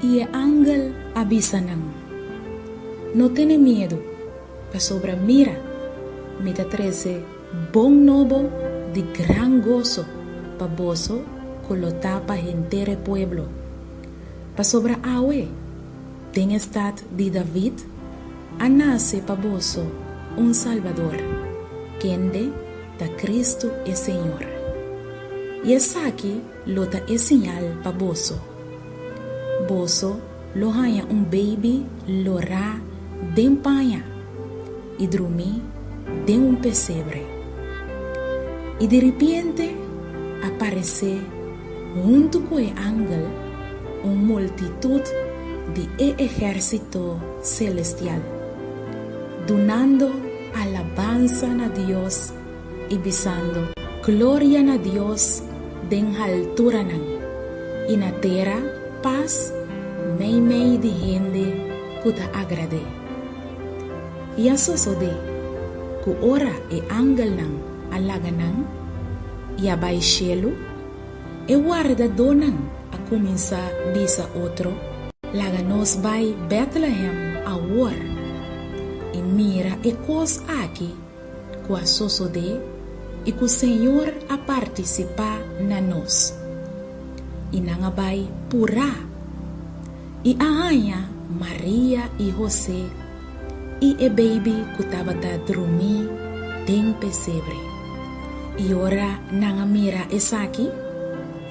I e angel a bisa nan, No tene miedu, pasobra mira, mi ta trese bon nobo di gran goso pa boso ku lo ta pa henter e pueblo. Pasobra awe, den e stat di David, A nase pa boso un Salbador, kende ta Kristu e Señor. I esaki lo ta e siñal pa boso, Boso lo haña un beibi lorá den paña i drumí den un pesebre. I diripiente a paresé. Huntu ku e angel, un multitut di e ehérsito selestial, dunando alabansa na Dios i bisando, Gloria na Dios den halturanan, i na tera pas meimei di hende ku ta agrad'é. I a sosodé ku ora e angelnan a laga nan i a bai shelu, e wardadónan a kuminsá bisa otro, Laga nos bai Bètlehem awor i mira e kos aki ku a sosodé i ku Señor a partisipá na nos. I nan a bai purá i a haña Maria i José i e beibi ku tabata drumí den pesebre. I ora nan a mira esaki,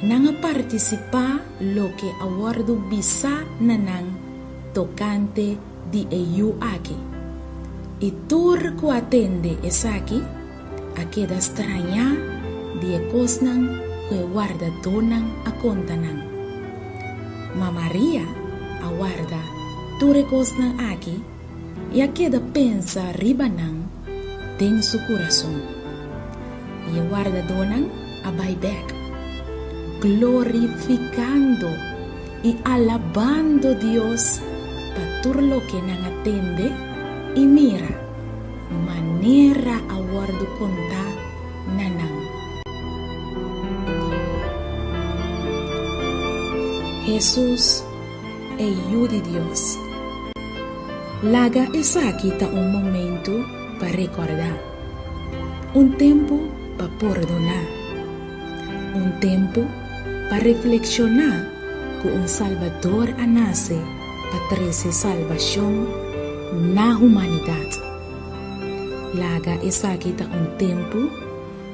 nan a partisipá loke a wòrdu bisá na nan tokante di e yu akí. I tur ku a tende esaki, A keda strañá di e kosnan ku e wardadónan a konta nan. Ma Maria a warda tur e kosnan aki i a keda pensa riba nan den su kurason. I e wardadónan a bai bèk, glorifikando i alabando Dios pa tur loke nan a tende i mira. manera a wòrdu kontá na nan. Hesus, e Yu di Dios. Laga esaki ta un momentu pa rekòrdá, un tempu pa pordoná, un tempu pa reflekshoná ku un Salbador a nase, pa trese salbashon na humanidat. Laga esaki ta un tempu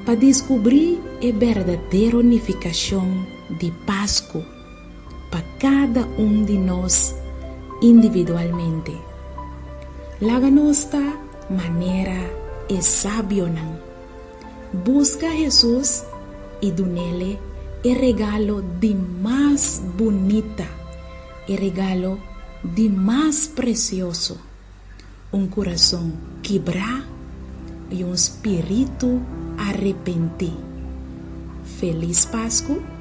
pa diskubrí e berdadero nifikashon di Pasku pa kada un di nos individualmente. Laga nos ta manera e sabionan. Buska Hesus i dunele e regalo di mas bunita, e regalo di mas presioso, un kurason kibrá i un spiritu arepentí. Felis Pasku!